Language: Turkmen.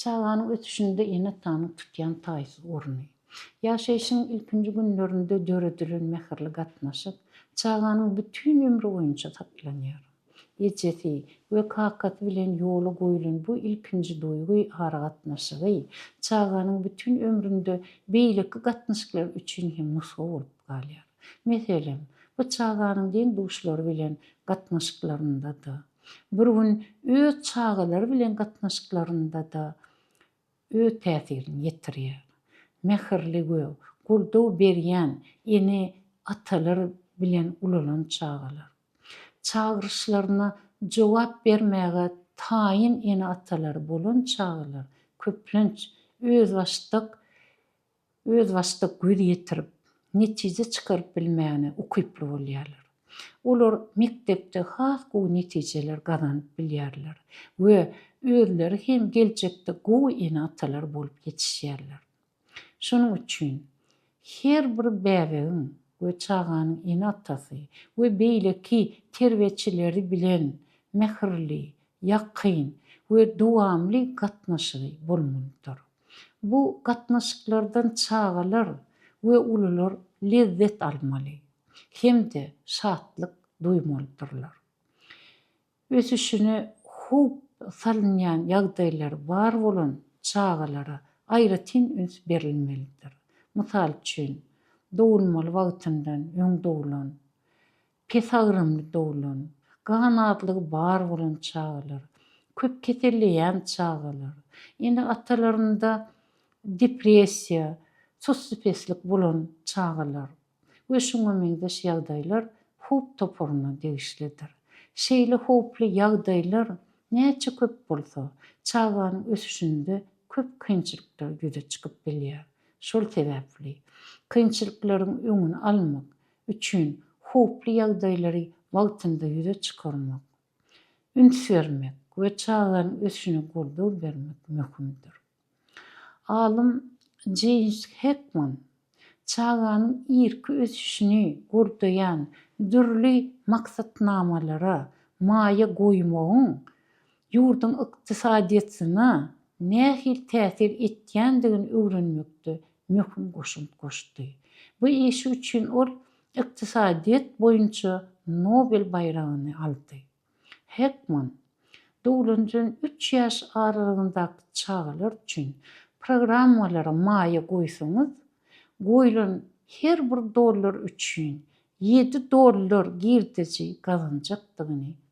Çaganyň ösüşinde ene-atanyň tutýan taýsyz orny. Ýaşaýşyň ilkinji günlerinde döredilen mähirli gatnaşyk çaganyň bütin ömri boýunça saklanýar. Ejesi we kakasy bilen ýola goýlan bu ilkinji duýgy aragatnaşygy çaganyň bütin ömründe beýleki gatnaşyklar üçin hem nusga bolup galýar. Meselem, bu çaganyň deň-duşlary bilen gatnaşyklarynda-da, bir gün öz çagalary bilen gatnaşyklarynda-da öz täsirini ýetirýär. Mähirli we goldaw berýän ene, atalar bilen ulalan çagalar, çagyryşlaryna jogap bermäge taýyn ene-atalary bolan çagalar köplenç özbaşdak özbaşdak göz ýetirip, netije çykaryp bilmägine ukyply bolýarlar. Olar mekdepde has gowy netijeler gazanyp bilýärler we özleri hem geljekde gowy ene-atalar bolup ýetişýärler. Şonuň üçin her bir bäbegiň we çaganyň ene-atasy we beýleki terbiýeçileri bilen mähirli, ýakyn we dowamly gatnaşygy bolmalydyr. Bu gatnaşyklardan çagalar we ulular lezzet almaly hem-de şatlyk duýmalydyrlar. Ösüşine howp salynýan ýagdaýlary bar bolan çagalara aýratyn üns berilmelidir. Mysal üçin, dogulmaly wagtyndan öň doglan Pesagrymly doglan, ganatlygy bar bolan çagalar, köp keselleýän çagalar, ene-atalarynda depressiýa, sussupeslik bolan çagalar we şuňa meňzeş ýagdaýlar howp toparyna degişlidir. Şeýle howply ýagdaýlar näçe köp bolsa, çaganyň ösüşinde köp kynçylyklar ýüze çykyp bilýär. Şol sebäpli kynçylyklaryň öňüni almak, üçin howply ýagdaýlary wagtynda ýüze çykarmak, üns bermek we çaganyň ösüşine goldaw bermek möhümdir. Alym Jeýms Hekman çaganyň irki ösüşini goldaýan dürli maksatnamalara maýa goýmagyň ýurduň ykdysadyýetine nähili täsir etýändigini öwrenmekde möhüm goşant goşdy. Bu işi üçin ol ykdysadyýet boýunça Nobel baýragyny aldy. Hekman, doglandan üç ýaş aralygyndaky çagalar üçin programmalara maýa goýsaňyz, goýlan her bir dollar üçin ýedi dollar girdeji gazanjakdygyny